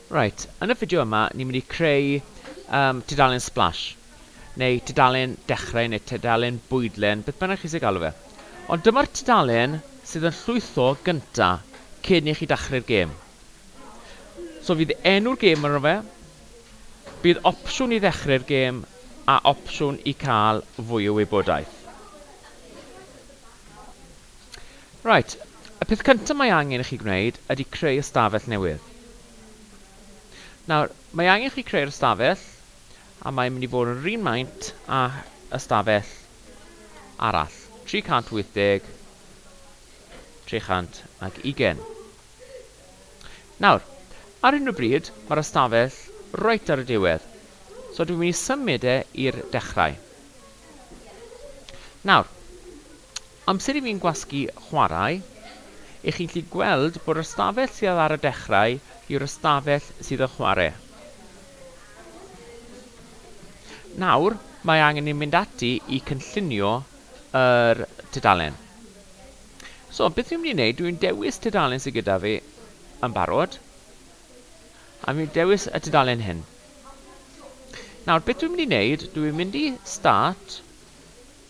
Reit, yn y fideo yma, ni'n mynd i creu um, tudalen splash, neu tudalen dechrau, neu tudalen bwydlen, beth bynnag chi sy'n galw fe. Ond dyma'r tudalen sydd yn llwytho gynta cyn i chi dachrau'r gêm. So fydd enw'r gêm yn fe, bydd opsiwn i ddechrau'r gêm a opsiwn i cael fwy o wybodaeth. Reit, y peth cyntaf mae angen i chi gwneud ydy creu ystafell newydd. Nawr, mae angen i chi creu'r ystafell, a mae'n mynd i fod yn yr un maint â ystafell arall, 380, 320. Nawr, ar hyn o bryd, mae'r ystafell reit ar y diwedd, so dwi'n mynd i symud e i'r dechrau. Nawr, Amser i fi'n gwasgu chwarae. I chi'n gallu gweld bod yr ystafell sydd ar y dechrau yw'r ystafell sydd yn chwarae. Nawr, mae angen ni mynd ati i cynllunio yr tudalen. So, beth fi'n mynd i wneud, dwi'n dewis tudalen sydd gyda fi yn barod. A fi'n dewis y tudalen hyn. Nawr, beth dwi'n mynd i wneud, dwi'n mynd i start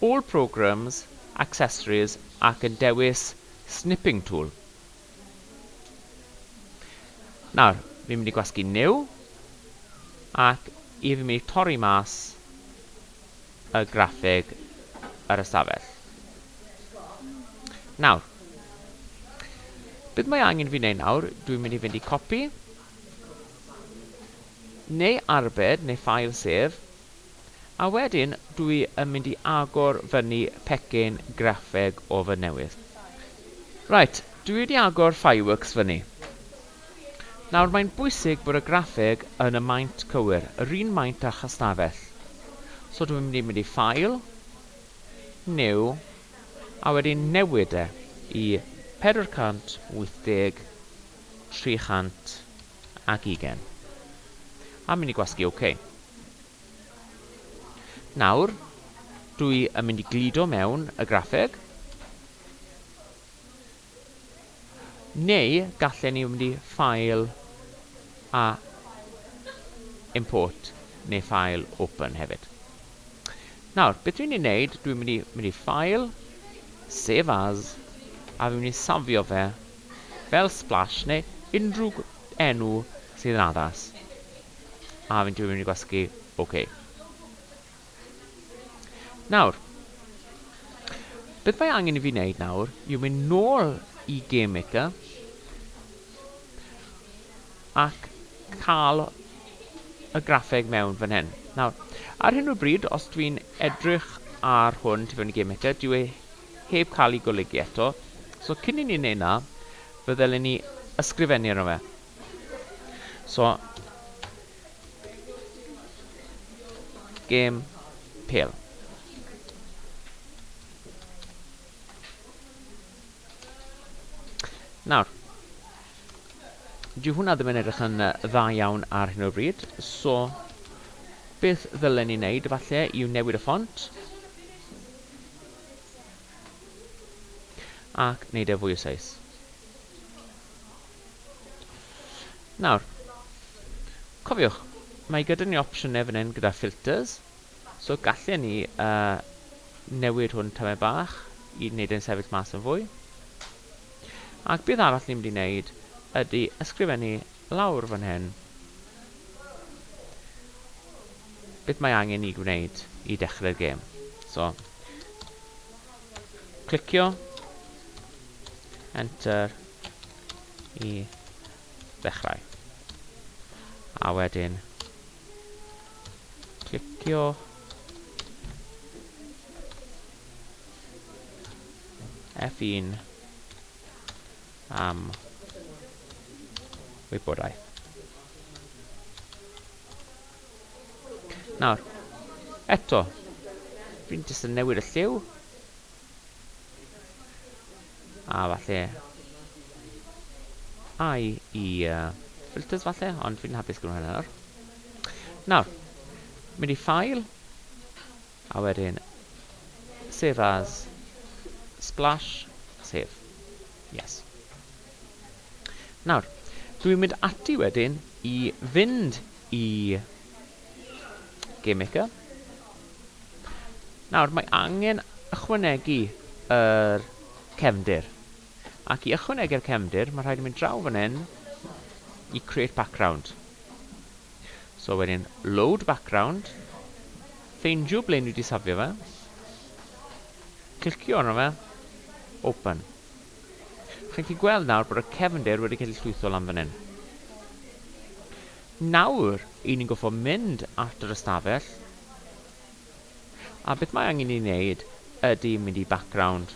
All Programs, Accessories ac yn dewis Snipping Tool. Nawr, fi'n mynd i gwasgu New ac i fi'n mynd i torri mas y graffeg yr ystafell. Nawr, beth mae angen fi wneud nawr, dwi'n mynd i fynd i copi neu arbed neu ffail sef A wedyn dwi yn mynd i agor fyny pecyn graffeg o fy newydd. Reit, dwi wedi agor Fireworks fyny. Nawr mae'n bwysig bod y graffeg yn y maint cywir, yr un maint â chystafell. So dwi'n mynd i mynd i File, New, a wedyn newid e i 480, 300, Ac ugain. A mynd i gwasgu ok. Nawr, dwi yn mynd i gludo mewn y graffeg. Neu gallen ni mynd i file a import neu file open hefyd. Nawr, beth dwi'n ei wneud, dwi'n mynd i mynd i file, save as, a fi'n mynd i safio fe fel Splash neu unrhyw enw sydd yn addas. A fi'n dwi mynd i gwasgu OK. Nawr, beth mae angen i fi wneud nawr yw mynd nôl i Game Maker ac cael y graffeg mewn fan hyn. Nawr, ar hyn o bryd, os dwi'n edrych ar hwn tu fewn i Game Maker, dwi e heb cael ei golygu eto, so cyn i ni wneud 'na, fe ddylwn ni ysgrifennu arno fe. So, gêm pel. Nawr, dyw hwnna ddim yn edrych yn dda iawn ar hyn o bryd, so beth ddylen ni wneud efallai yw newid y ffont. Ac wneud e fwy o seis. Nawr, cofiwch, mae gyda ni opsiynau fan hyn gyda filters, so gallen ni uh, newid hwn tamaid bach i wneud e'n sefyll mas yn fwy. Ac beth arall ni'n mynd i wneud ydy ysgrifennu lawr fan hyn, beth mae angen i gwneud i dechrau'r gêm. So, clicio, enter i ddechrau. A wedyn, clicio, F1, am wybodaeth. Nawr, eto, fi'n jyst yn newid y lliw. A falle, ai i uh, filters falle, ond fi'n hapus gyda hynny nawr. Nawr, mynd i ffail, A wedyn save as, splash, save. Yes. Nawr, dwi'n mynd ati wedyn i fynd i Game Maker. Nawr, mae angen ychwanegu yr cefndir. ac i ychwanegu'r cefndir mae'n rhaid i mi draw fan hyn i create background so wedyn load background ffeindio ble ni wedi safio fe clicio arno fe open chi'n gallu gweld nawr bod y cefndir wedi cael ei llwytho lan fan hyn nawr i ni'n goffo mynd at yr ystafell a beth mae angen i ni wneud ydy mynd i background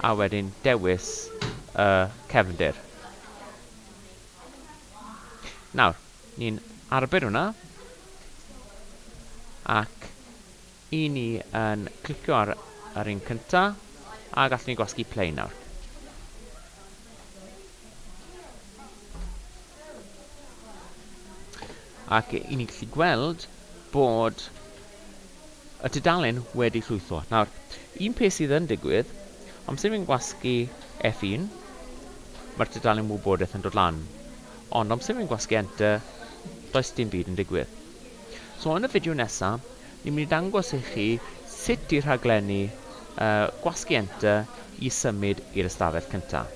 a wedyn dewis y cefndir. Nawr, ni'n arbed hwnna ac i ni yn clicio ar yr un cynta a gallwn ni gwasgu play nawr. Ac i ni gallu gweld bod y tudalen wedi llwytho. Nawr, un peth sydd yn digwydd, amser fi'n gwasgu F1, mae'r tudalen wybodaeth yn dod lan. Ond amser fi'n gwasgu Enter, does dim byd yn digwydd. So yn y fideo nesaf, ni'n mynd i dangos i chi sut i rhaglennu uh, gwasgu Enter i symud i'r ystafell cyntaf.